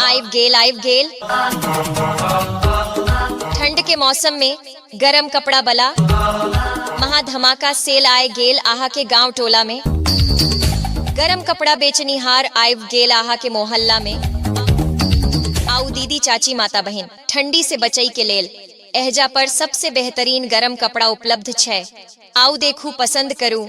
आइब गेल आइब गेल ठंड के मौसम में गरम कपड़ा बला महा धमाका सेल आए गेल आहा के गांव टोला में गरम कपड़ा बेचनी हार आइब गेल आहा के मोहल्ला में आउ दीदी चाची माता बहन ठंडी से बचई के लेल एहजा पर सबसे बेहतरीन गरम कपड़ा उपलब्ध छै आउ देखू पसंद करू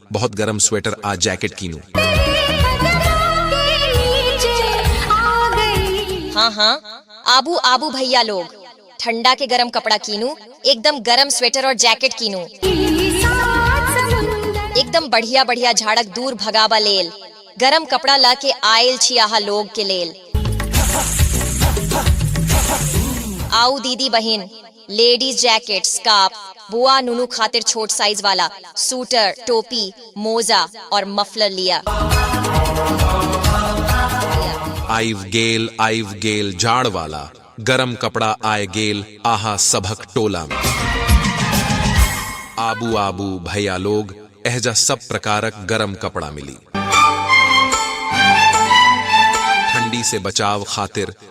बहुत गर्म स्वेटर आ जैकेट कीनू हाँ हाँ आबू आबू भैया लोग ठंडा के गरम कपड़ा कीनू एकदम गरम स्वेटर और जैकेट कीनू एकदम बढ़िया बढ़िया झाड़क दूर भगावा लेल गरम कपड़ा ला के आयल छी आहा लोग के लेल आओ दीदी बहन लेडीज जैकेट, स्कार्फ, बुआ नुनु खातिर छोट साइज वाला, सूटर, टोपी, मोजा और मफलर लिया। आइव गेल आइव गेल जाड़ वाला गरम कपड़ा आय गेल आहा सभक टोला में आबू आबू भैया लोग एहजा सब प्रकारक गरम कपड़ा मिली ठंडी से बचाव खातिर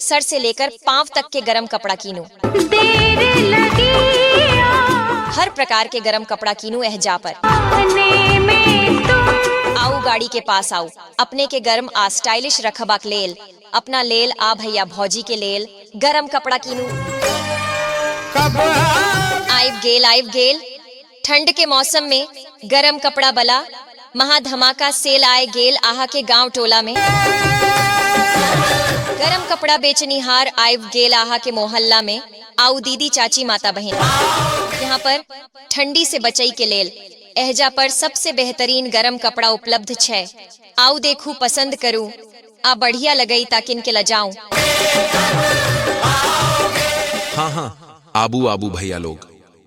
सर से लेकर पांव तक के गरम कपड़ा कीनू हर प्रकार के गरम कपड़ा कीनू एह जा पर आओ गाड़ी के पास आओ अपने के गर्म आ स्टाइलिश रखबा के लेल अपना लेल आ भैया भौजी के लेल गरम कपड़ा कीनू आइब गेल आइब गेल ठंड के मौसम में गरम कपड़ा बला महा धमाका सेल आय गेल आहा के गांव टोला में गरम कपड़ा बेचनिहार आयब गेल आहा के मोहल्ला में आउ दीदी चाची माता बहन यहाँ पर ठंडी से बचई के लेल एहजा पर सबसे बेहतरीन गरम कपड़ा उपलब्ध छै आउ देखू पसंद करू आ बढ़िया लगई ताकिन के लजाऊ हाँ हाँ आबू आबू भैया लोग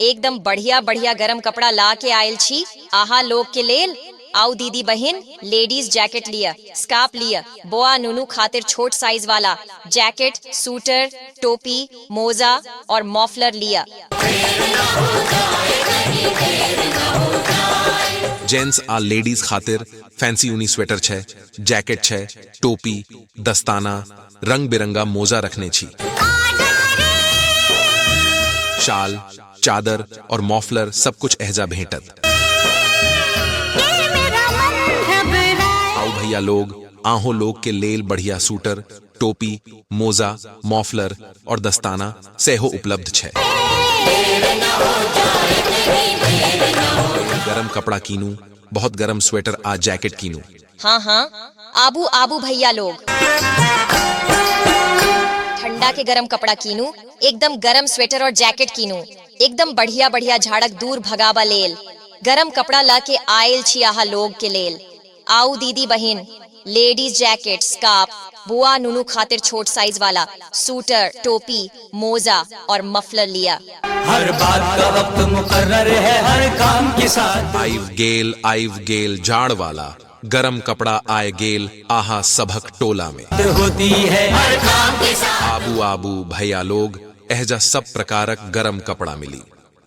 एकदम बढ़िया बढ़िया गरम कपड़ा ला के आयल छी आहा लोग के लेल आउ दीदी बहिन लेडीज जैकेट लिय स्काप लिय बोआ नुनु खातिर छोट साइज वाला जैकेट सूटर टोपी मोजा और मॉफलर लिय जेंट्स आ लेडीज खातिर फैंसी ऊनी स्वेटर छै जैकेट छै टोपी दस्ताना रंग बिरंगा मोजा रखने छी शाल चादर और मॉफलर सब कुछ एहजा भेंटत आओ भैया लोग आहो लोग के लेल बढ़िया सूटर टोपी मोजा मॉफलर और दस्ताना सेहो उपलब्ध छे गरम कपड़ा कीनू बहुत गरम स्वेटर आ जैकेट कीनू हाँ हाँ आबू आबू भैया लोग। ठंडा के गरम कपड़ा कीनू एकदम गरम स्वेटर और जैकेट कीनू एकदम बढ़िया बढ़िया झाड़क दूर भगाबा लेल गरम कपड़ा ल के आएल छी आहा लोग के लेल आउ दीदी बहिन लेडीज जैकेट स्कार्फ बुआ नुनु खातिर छोट साइज वाला सूटर टोपी मोजा और मफलर लिया हर बात का वक्त मुकर्रर है हर काम के साथ आइव गेल आइव गेल जाड़ वाला गरम कपड़ा आय गेल आहा सभक टोला में होती है हर काम के साथ आबू आबू भैया लोग एहजा सब प्रकारक गरम कपड़ा मिली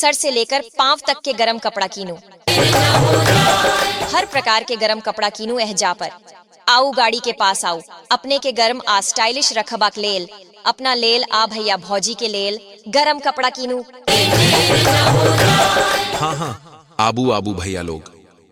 सर से लेकर पांव तक के गरम कपड़ा कीनू हर प्रकार के गरम कपड़ा कीनू एह जा पर आऊ गाड़ी के पास आऊ अपने के गर्म आ स्टाइलिश रखबाक लेल अपना लेल आ भैया भौजी के लेल गरम कपड़ा कीनू हाँ हाँ आबू आबू भैया लोग